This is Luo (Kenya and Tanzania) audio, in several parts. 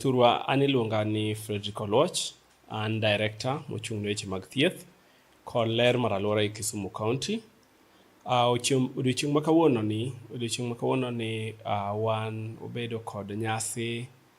Thurwa an iluonga ni Fredrick Oluoch, an director mochung' ne weche mag thieth kod ler mar alwora e Kisumu County. Uh, odiochieng' ma kawuono ni odiochieng' ma kawuono ni uh, wan obedo kod nyasi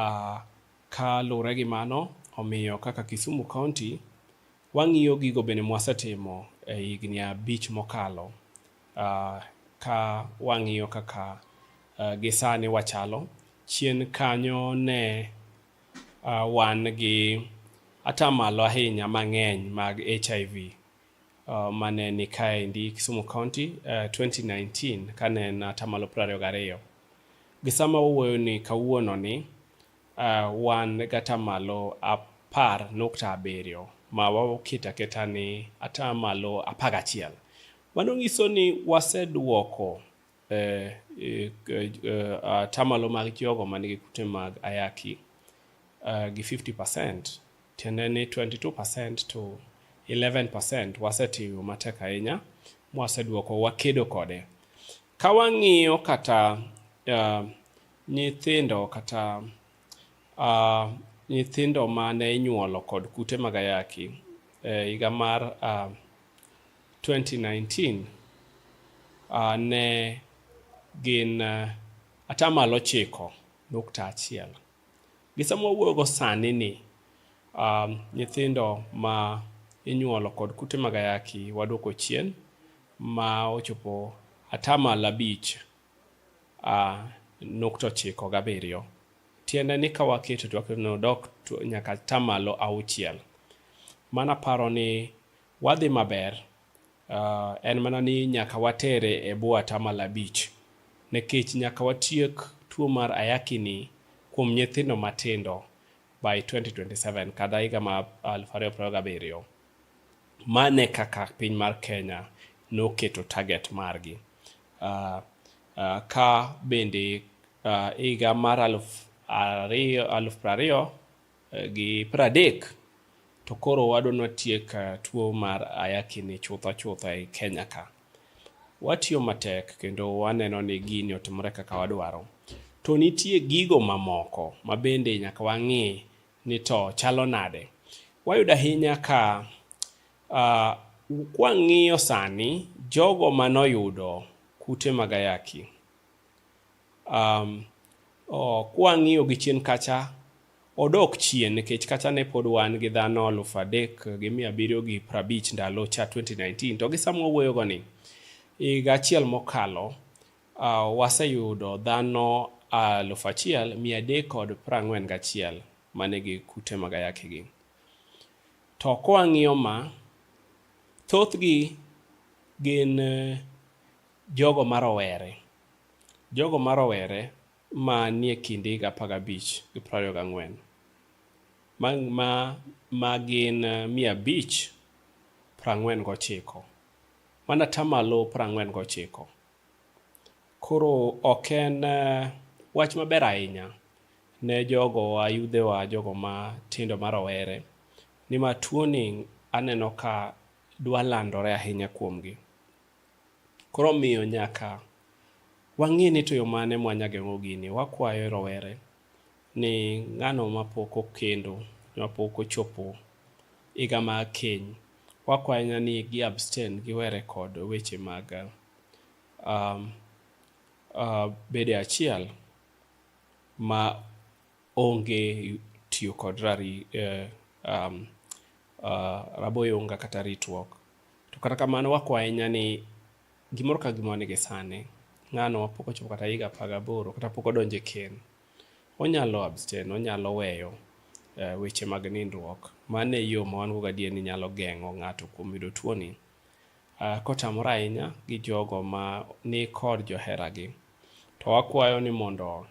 Uh, ka luwore gi mano, omiyo kaka Kisumu County, wang'iyo gigo bende mwasetimo e higni abich mokalo uh, ka wang'iyo kaka uh, gisani wachalo. Chien kanyo ne uh, wan gi atamalo ahinya mang'eny mag HIV uh, mane ni kaendi Kisumu County uh, 2019 kane en atamalo 22 gi sama wawuoyo ni kawuono ni uh, wan gatamalo apar nukta abiriyo ma waketo aketa ni atamalo apar gachiel mano nyiso ni waseduoko eh, eh, eh, atamalo uh, mag jogo man gi kute mag ayaki uh, gi 50 percent tiende ni 22 percent to 11 percent wasetiyo matek ahinya mwaseduoko wakedo kode ka wang'iyo kata uh, nyithindo kata uh, nyithindo ma ne inyuolo kod kute mag ayaki e higa mar uh, 2019 uh, ne gin uh, atamalo chiko nukta achiel. Gi sama wawuoyogo sani ni um, nyithindo ma inyuolo kod kute mag ayaki waduoko chien ma ochopo atamalo abich uh, nukta ochiko gabiriyo. Tiende ni ka waketo to waketo ni odok nyaka atamalo auchiel. Mano aparo ni Wadhi maber. Uh, en mana ni nyaka watere e bwo atamalo abich nekech nyaka watiek tuo mar ayaki ni kuom nyithindo matindo by 2027 kada higa ma 2027 mane kaka piny mar Kenya noketo target margi uh, uh, ka bende uh, higa mar aluf ariyo aluf prariyo eh, gi pradek to koro wadwa ni watiek eh, tuo mar ayakini chutha chutha e Kenya ka. Watiyo matek kendo waneno ni gini otimore kaka wadwaro. To nitie gigo mamoko ma bende nyaka wang'i ni to chalo nade. Wayudo ahinya ka uh, kwang'iyo sani jogo manoyudo kute mag ayaki Um, oh, kwang'iyo gi chien kacha odok chien nikech kacha ne pod wan gi dhano aluf adek gi mia abiriyo gi prabich ndalo cha 2019 to gi sama wawuoyogo ni higa achiel mokalo uh, waseyudo dhano aluf achiel mia adek kod prang'wen gachiel mane gi kute mag ayaki gi to kwang'iyo ma thothgi gin eh, jogo marowere Jogo ma rowere ma nie kind higa apar gabich gi piero ariyo gang'wen, ma gin mia abich piero ang'wen gochiko, mano atamalo piero ang'wen gochiko. Koro ok en wach maber ahinya ne jogowa, yudhewa, jogo matindo ma rowere nimar tuoni aneno ka dwa landore ahinya kuomgi. Koro omiyo nyaka wang'e ni to yo mane mwanya geng'o gini. Wakwayo rowere ni ng'ano mapok okendo, mapok ochopo higa ma keny, wakwayo ni gi abstain giwere kod weche mag um, uh, bede achiel ma onge tiyo kod rari, eh, um, uh, raboyunga kata ritruok. To kata kamano wakwa ahinya ni gimoro ka gimoro nigi sane. Ng'ano pok ochopo kata higa apar gaboro kata pok odonje ken. Onyalo abstain, onyalo weyo uh, weche mag nindruok. Mano e yo ma wan go gadier ni nyalo geng'o ng'ato kuom yudo tuoni. Uh, kotamore ahinya gi jogo ma ni kod joheragi. To wakwayo ni mondo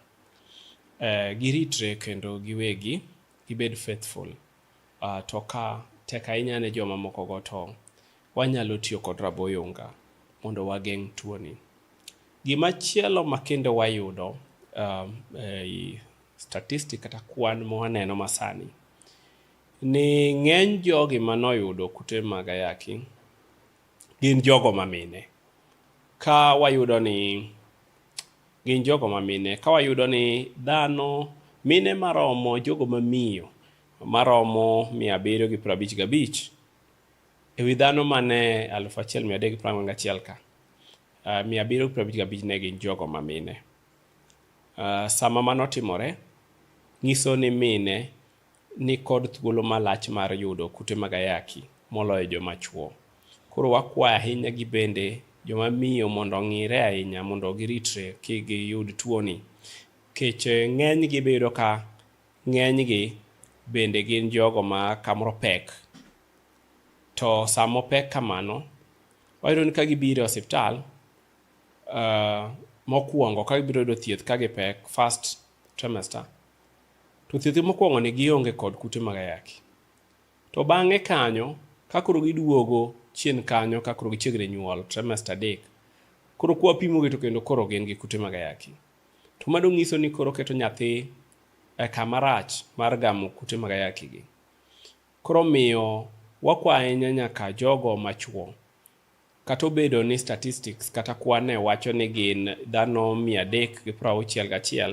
eh, giritre kendo giwegi gibed faithful uh, to ka tek ahinya ne joma moko go to wanyalo tiyo kod raboyunga mondo wageng' tuoni. Gima chielo makendo wayudo um, eh, statistic kata kwan mwaneno masani ni ng'eny jogi manoyudo kute mag ayaki gin jogo mamine ka wayudo ni gin jogo mamine ka wayudo ni dhano mine maromo jogo mamiyo maromo mia abiriyo gi piero abich gabich e wi dhano mane aluf achiel mia adek gi piero ang'wen gachiel ka uh, mia abiriyo gi piero abich gabich ne gin jogo mamine uh, sama mano timore nyiso ni mine ni kod thuolo malach mar yudo kute mag ayaki moloyo joma chwo. Koro wakwayo ahinya gi bende joma miyo mondo ong'ire ahinya mondo giritre ki giyud tuoni. Kech eh, ng'eny gi biyudo ka ng'eny gi bende gin jogo ma kamoro pek. To samo pek kamano, wayudo ni ka gibiro e osiptal, uh, mokwongo ka gibiro yudo thieth ka gipek first trimester, To thieth mokwongo ni gionge kod kute mag ayaki. To bang'e kanyo, ka koro giduogo chien kanyo, ka koro gichiegre nyuol, trimester adek, koro kwa pimogi to kendo koro gin gi kute mag ayaki. To mado ng'iso ni koro keto nyathi e kama rach mar gamo kute mag ayaki gi. Koro miyo wakwa ahinya nyaka jogo machuo. Kata obedo ni statistics kata kwane wacho ni gin dhano mia adek gi prauchiel gachiel,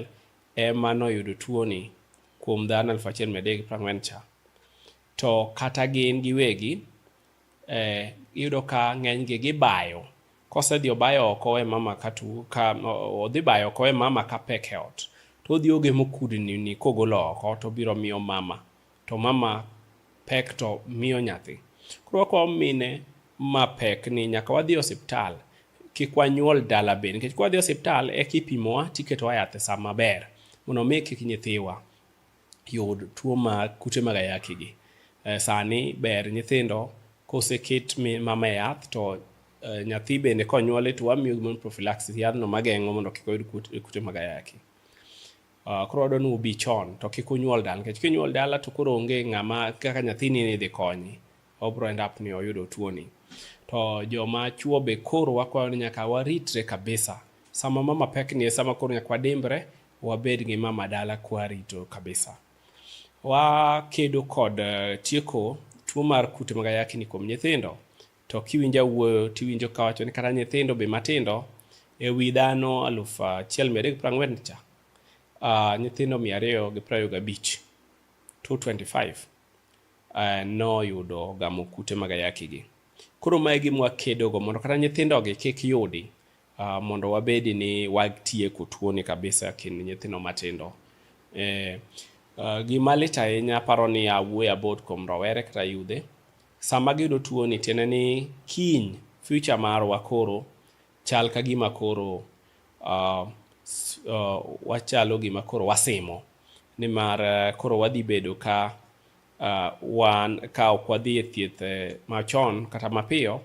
e ma noyudo tuoni kuom dhano 1340 cha, to kata gin giwegi eh, iyudo ka ng'enygi gibayo kosedhi obayo oko we mama ka tu ka odhi bayo oko we mama ka pek e ot to odhi ogemo kudni ni kogolo oko to biro miyo mama to mama pek to miyo nyathi. Koro wakwayo mine ma pek ni nyaka wadhi osiptal kik wanyuol dala be nikech kwadhi osiptal e kipimowa tiketowa yath e sa maber mondo mi kik nyithiwa yud tuo ma kute mag ayaki gi. Eh, sani ber nyithindo koseket mama e yath to eh, nyathi bende konyuole to wamiyo gimoro prophylaxis yadhno mageng'o mondo kik oyud kute mag ayaki. Uh, koro wadwa ni ubi chon to kik unyuol dala nikech kinyuol dala to koro onge ng'ama kaka nyathini ni idhi konyi obro end up ni oyudo tuoni to joma chuo be koro wakwayo ni nyaka waritre kabisa sama mama pek ni e sama koro nyaka wadimbre wabed gi mama dala kwarito kabisa wakedo kod uh, tieko tuo mar kute mag ayaki ni kuom nyithindo To kiwinjo awuoyo to iwinjo kawacho ni kata nyithindo be matindo e wi dhano aluf achiel mia adek piero ang'wen cha uh, nyithindo mia ariyo gi piero ariyo gabich 225 uh, noyudo gamo kute mag ayaki gi. Koro mae gima wakedogo mondo kata nyithindogi kik yudi uh, mondo wabedi ni watieko tuoni kabisa kind nyithindo matindo. Eh, uh, gima lit ahinya aparo ni awuoyo about kuom rowere kata yudhe Sama giyudo tuoni tiende ni kiny future marwa koro chal ka gima koro uh, uh, wachalo gima koro wasimo nimar uh, koro wadhi bedo ka uh, wan ka ok wadhi e thieth eh, machon kata mapiyo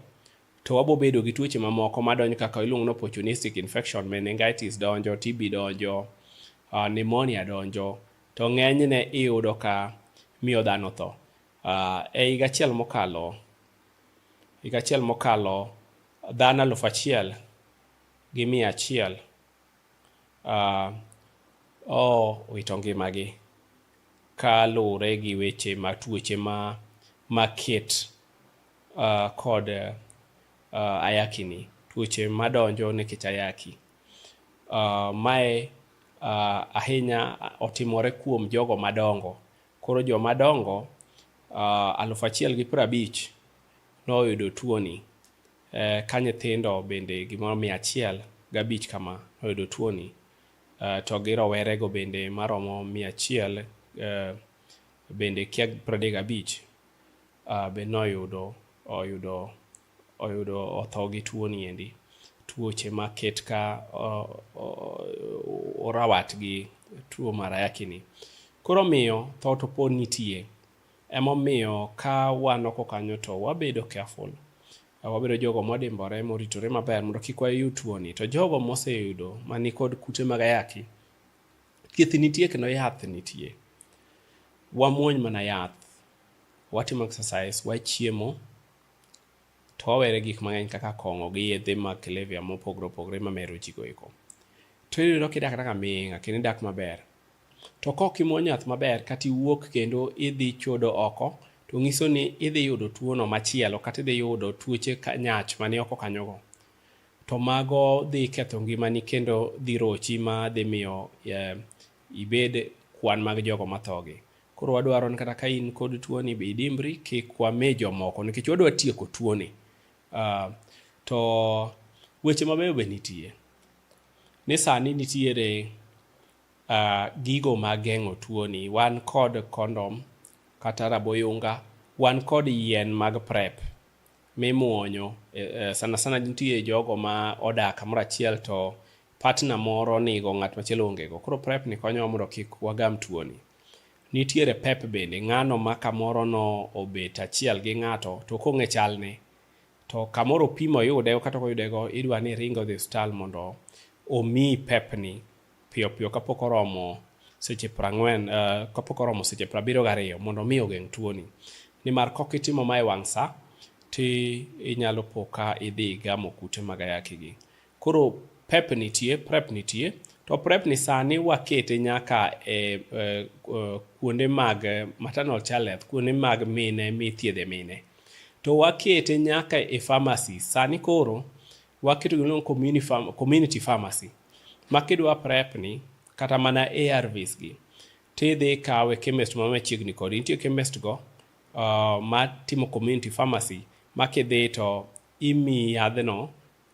to wabo bedo gi tuoche mamoko madonjo kaka iluongo ni opportunistic infection meningitis donjo tb donjo uh, pneumonia donjo to ng'enyne iyudo ka miyo dhano tho Uh, e higa achiel mokalo higa achiel mokalo dhano alufu achiel gi mia achiel uh, owito ngimagi ka luwore gi weche ma tuoche ma maket uh, kod uh, ayaki ni tuoche madonjo nikech ayaki uh, mae uh, ahinya otimore kuom jogo madongo Koro joma dongo uh, aluf achiel gi piero abich noyudo tuoni eh, ka nyithindo bende gimoro mia achiel gabich kama noyudo tuoni eh, to gi rowerego bende maromo mia achiel eh, bende kia piero adek gabich uh, be noyudo oyudo oyudo otho gi tuo ni endi tuoche ma ket ka orawat gi tuo mar ayaki ni koro miyo tho to pod nitie emomiyo ka wan oko kanyo to wabedo careful wabedo jogo modimbore moritore maber mondo kik wayud tuo ni to jogo moseyudo mani kod kute mag ayaki thieth nitie kendo yath nitie wamuony mana yath watimo exercise wachiemo to wawere gik mang'eny kaka kong'o gi yedhe mag kilevya mopogore opogore ma mero ji goeko. To ineno kidak kaka aming'a kendo idak maber. To kok imwony yath maber kata iwuok kendo idhi chodo oko to nyiso ni idhi yudo tuono machielo kata idhi yudo tuoche nyach mane oko kanyogo. To mago dhi ketho ngimani kendo dhi rochi ma dhi miyo eh, ibed kwan mag jogo mathogi. Koro wadwaro ni kata ka in kod tuoni be idimbri kik wame jomoko nikech wadwa tieko tuoni. Uh, to weche mabeyo be nitie ni sani nitiere uh, gigo mageng'o tuoni wan kod kondom kata raboyunga wan kod yien mag prep mimuonyo e, e, sana sana nitie jogo ma odak kamoro achiel to partner moro nigo ng'at machielo ongego koro prep ni konyowa mondo kik wagam tuoni Nitiere pep bende, ng'ano ma kamoro no obet achiel gi ng'ato to kong'e chalne to kamoro pimo yude kata oyude go idwa ni ringo dhi hospital mondo omi pepni piyo piyo kapok oromo seche prang'wen uh, eh, kapok oromo seche prabiriyo gariyo mondo omi ogeng' tuoni nimar kok itimo ma e wang' sa ti inyalo po ka idhi gamo kute mag ayaki gi Koro pep nitie, prep nitie. To prep ni sani wakete nyaka e, e, e kuonde mag maternal child health, kuonde mag mine mithiedhe mine. To wakete nyaka e pharmacy. Sani koro waketo gino community, community pharmacy. Ma kidwa prep ni kata mana ARVs gi tidhi kawe chemist ma machiegni kodi. Nitie chemist go uh, ma timo community pharmacy ma kidhi to imiyi yadhno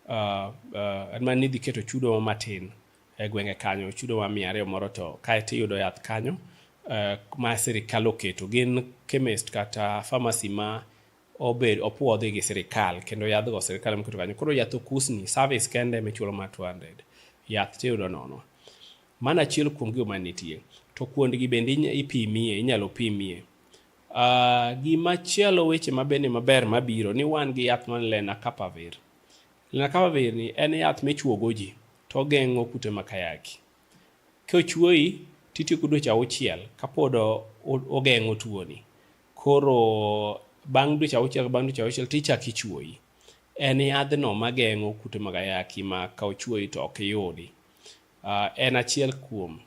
uh, uh, man ni idhi keto chudo matin e gwenge kanyo chudo wa mia ariyo moro to kae to iyudo yath kanyo uh, ma sirikal oketo gin chemist kata pharmacy ma obed opuodhi gi sirikal kendo yadhgo sirikal emoketo kanyo koro yath okusni service kende michulo ma 200 yath tiyudo nono mano achiel kuom gigo manitie to kuondgi bende ipimie inyalo pimie Uh, gima chielo weche mabende maber mabiro ni wan gi yath man lenacapavir lenacapavir ni en yath michuogo ji to ogeng'o kute makayaki kochuoyi titieko dweche auchiel kapod ogeng'o tuoni koro bang' dweche auchiel bang' dweche auchiel tichak ichuoyi en yadhno mageng'o kute makayaki ma ka ochuoyi to ok iyudi uh, en achiel kuom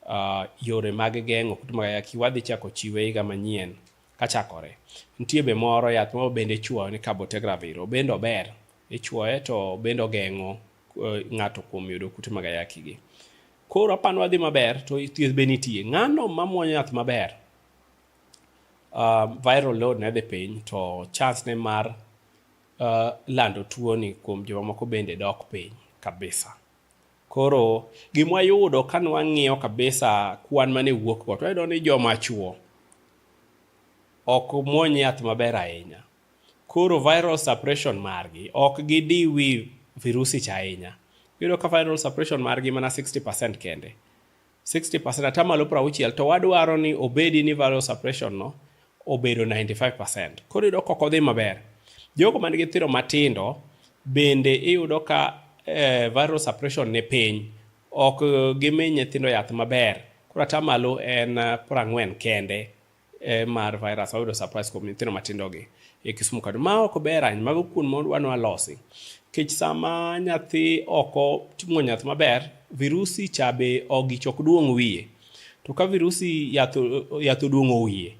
uh, yore mag geng'o kute mag ayaki wadhi chako chiwe higa manyien kachakore. Nitie be moro yath moro bende ichuoyo ni cabotegravir, obende ober, ichuoye to obende ogeng'o uh, ng'ato kuom yudo kute mag ayaki gi. Koro apani wadhi maber to thieth be nitie. Ng'ano mamuonyo yath maber, uh, viral load ne dhi piny to chance ne mar uh, lando tuoni kuom jomamoko bende dok piny kabisa. Koro gima wayudo ka nwang'iyo kabisa kwan mane wuok go, twayudo ni joma chuo ok muony yath maber ahinya. Koro viral suppression margi ok gidiwi virusi cha ahinya. Iyudo ka viral suppression margi mana 60% kende. 60% atamalo 60 to wadwaro ni obedi ni value suppression no obedo 95%. Koro iyudo koko dhi maber. Jogo man gi thiro matindo bende iyudo ka eh, viral suppression ni piny ok gimi nyithindo yath maber. Koro atamalo en 40 eh, kende eh, mar virus wayudo surprise kuom nyithindo matindogi e Kisumu kadu ma ok ber ahinya mago kuon modwa ni walosi kech sama nyathi oko timo nyath maber virusi cha be ogich ok duong' wiye to ka virusi yath yath oduong'o wiye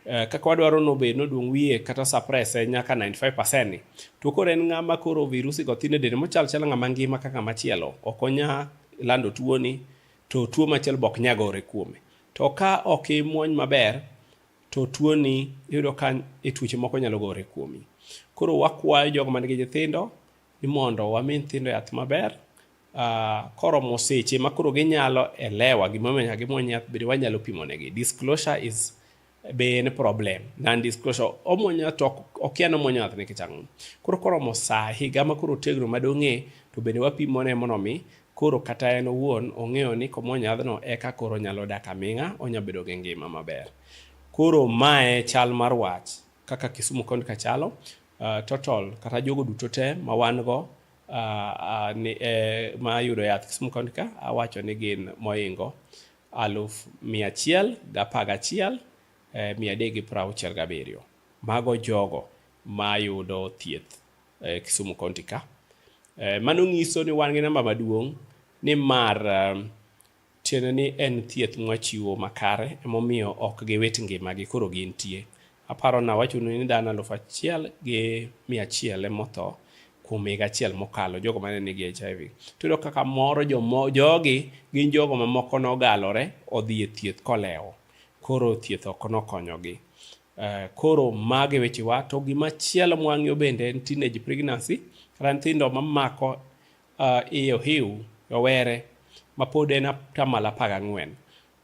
eh, kaka wadwaro nobed noduong' wiye kata suppress eh, nyaka 95% ni to koro en ng'ama koro virusi go thin e dende mochal chal ng'ama ngima kaka machielo ok onya lando tuoni to tuo machielo bok nyagore kuome To ka ok imuony maber, to tuoni iyudo ka e tuoche moko nyalo gore kuomi. Koro wakwayo jogo man gi nyithindo ni mondo wami nyithindo yath maber uh, koromo seche ma koro ginyalo elewa gimomiyo nyaka gimuony yath bende wanyalo pimo negi. Disclosure is be en problem non disclosure omuonyo to okia ni omuonyo yath nikech ang'o. Koro koromo saa higa ma koro otegno madong'e to bende wapimone mondo mi Koro kata en owuon ong'eyo ni komwony yadhno eka koro onyalo dak aming'a, onya bedo gi ngima maber. Koro mae chal mar wach kaka Kisumu County ka chalo, uh, total kata jogo duto te ma wan go uh, uh, ni, eh, ma yudo yath Kisumu County ka awacho ni gin moingo aluf mia achiel gi apar gachiel eh, mia adek gi piero auchiel gabiriyo. Mago jogo ma yudo thieth eh, Kisumu County ka. Eh, mano nyiso ni wan gi namba maduong' ni mar eh, tiende ni en thieth mwachiwo makare emomiyo ok giwit ngimagi koro gintie. Aparo na wacho ni dhano aluf achiel gi mia achiel emotho kuom higa achiel mokalo jogo mane nigi HIV. Tudo kaka moro jomo, jogi gin jogo mamoko nogalore odhi e thieth kolewo. Koro thieth ok nokonyogi. Uh, koro mage wechewa to gima chielo mwang'yo bende en teenage pregnancy kata nyithindo mamako uh, iye ohiu rowere mapod en atamalo apar gang'wen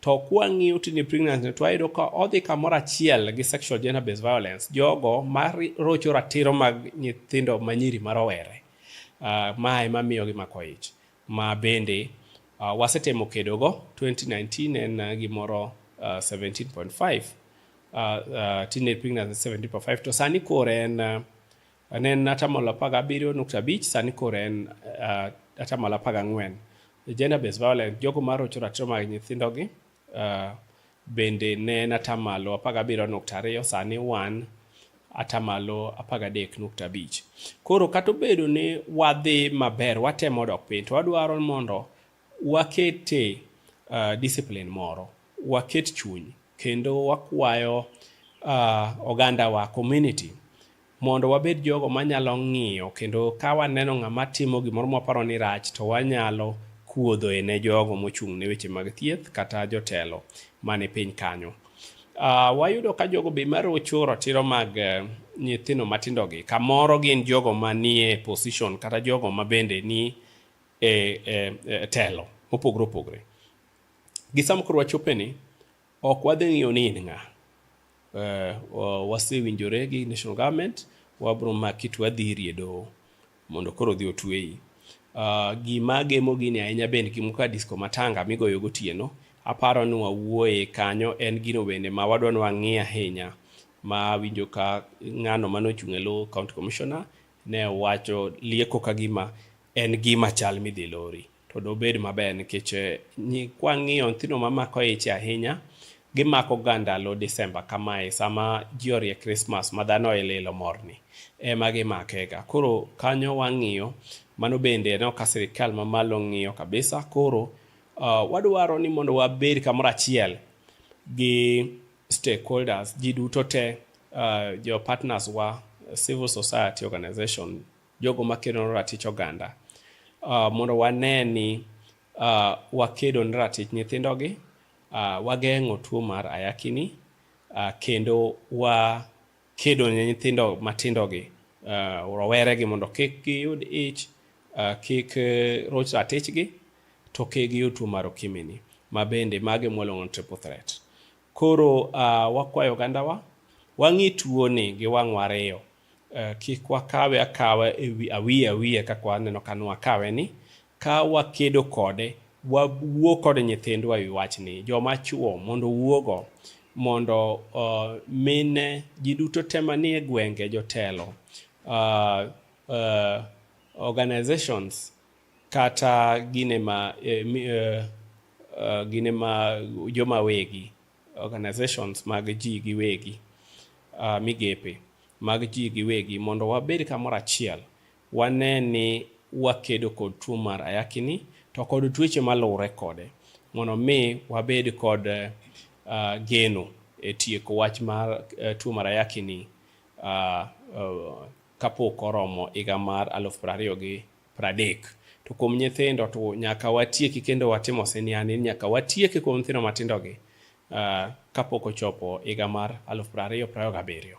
to kwang'iyo teenage pregnancy to wayudo ka odhi kamoro achiel gi sexual gender based violence jogo marocho ratiro mag nyithindo manyiri marowere uh, ma ema miyogi mako ich ma bende uh, wasetemo kedogo 2019 en uh, gimoro uh, 17.5 uh, uh, teenage pregnancy 17.5 to sani koro en uh, ne en atamalo apar gabiriyo nukta abich sani koro en uh, atamalo apar gang'wen gender based violence jogo marocho ratiro mag nyithindogi Uh, bende ne en atamalo 17.2 sani wan atamalo 13.5. Koro kata obedo ni wadhi maber, watemo dok piny, to wadwaro mondo wakete uh, discipline moro, waket chuny kendo wakwayo uh, ogandawa community mondo wabed jogo manyalo ng'iyo kendo ka waneno ng'ama timo gimoro mwaparo ni rach to wanyalo kuodhoe ne jogo mochung' ne weche mag thieth kata jotelo mane piny kanyo. Uh, wayudo ka jogo be marocho ratiro mag uh, nyithindo matindogi kamoro gin jogo manie position kata jogo ma bende ni e, e, e telo mopogore opogore gi sama koro wachopeni Ok wadhi ng'iyo ni in ng'a. Uh, wasewinjore gi national government, wabro maki to wadhi iri e doho mondo koro odhi otweyi. Uh, gima gemo gini ahinya be en gimo ka disco matanga migoyo gotieno. Aparo ni wawuoye kanyo en gino bende ma wadwa ni wang'i ahinya ma winjo ka ng'ano mane ochung' e lo county commissioner ne wacho lieko ka gima en gima chal midhi lori. to dobed maber nikech eh, kwang'iyo nyithindo mamako ich ahinya gimako ga ndalo Desemba kamae sama ji orie Krismas ma dhano e lilo morni ema gimakega. Koro kanyo wang'iyo mano bende aneno ka sirikal mamalo ng'iyo kabisa. Koro uh, wadwaro ni mondo wabed kamoro achiel gi stakeholders ji duto te uh, jo partners wa civil society organization jogo makedo ne ratich oganda uh, mondo wane ni uh, wakedo ne ratich nyithindogi uh, wageng'o tuo mar ayakini uh, kendo wakedo ne nyithindo matindogi uh, roweregi mondo kik giyud ich uh, kik uh, roch ratichgi to kik giyud tuo mar okimini ma bende mage mwalong'o ni triple threat koro uh, wakwayo ogandawa wang'i tuoni gi wang'wa ariyo Kik wakawe akawa awiye awiye kaka waneno ka nwakawe ni, ka wakedo kode, wawuo kod nyithindwa e wi wachni. Joma chwo mondo owuogo mondo mine ji duto te manie gwenge, jotelo, organizations kata gine ma joma wegi. organizations mag ji giwegi, uh, migepe mag ji giwegi mondo wabed kamoro achiel wane ni wakedo kod tuo mar ayakini to kod tuoche maluwre kode mondo mi wabed kod uh, geno e tieko wach mar uh, tuo mar ayakini uh, uh, kapok oromo higa mar aluf prariyo gi pradek. To kuom nyithindo to nyaka watieki kendo watimo siniani, nyaka watieki kuom nyithindo matindogi uh, kapok ochopo higa mar aluf prariyo prariyo gabiriyo.